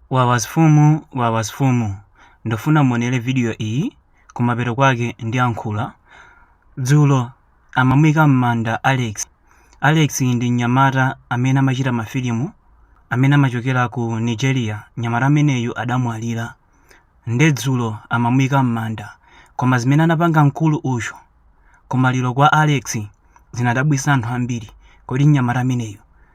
Wawa mfumu wawa mfumu ndufuna muonele video iyi kumapeto kwake ndiyankhula dzulo amamuika mmanda Alex Alex ndi mnyamata amene amachita mafilimu amene amachokera ku Nigeria mnyamata ameneyu adamwalira nde dzulo amamuika mmanda koma zimene anapanga mkulu uyo kumaliro kwa Alex zinadabwisa anthu ambiri kodi mnyamata ameneyu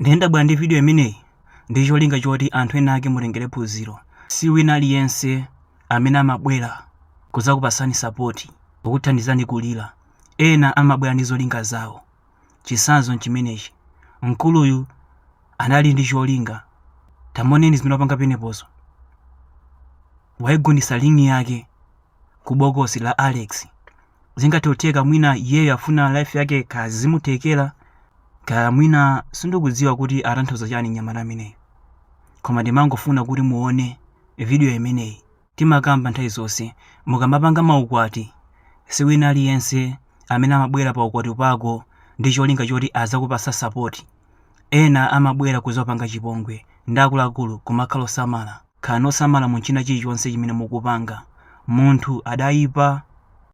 nde ndabwera ndi video imeneyi ndi cholinga choti anthu ena ake mutengere phunziro si wina aliyense amene amabwera kudzakupasani sapoti kukuthandizani kulira ena amabwera ndi zolinga zawo chisanzo nchimenechi mkuluyu anali ndi cholinga tamoneni zimene wapanga penepozo waigundisa ring yake ku bokosi la alex zingathe kutheka mwina iyeyo afuna life yake kaya zimuthekera kaya mwina sindikudziwa kuti atanthauza chani mnyamata ameneyu koma ndimangofuna kuti muone vidiyo imeneyi timakamba nthawi zonse mukamapanga maukwati si wina aliyense amene amabwera pa ukwati pako ndi cholinga choti azakupasa sapoti ena amabwera kuzakupanga chipongwe nde akuluakulu kumakhala osamala Khalani osamala mu china chilichonse chimene mukupanga. Munthu adaipa.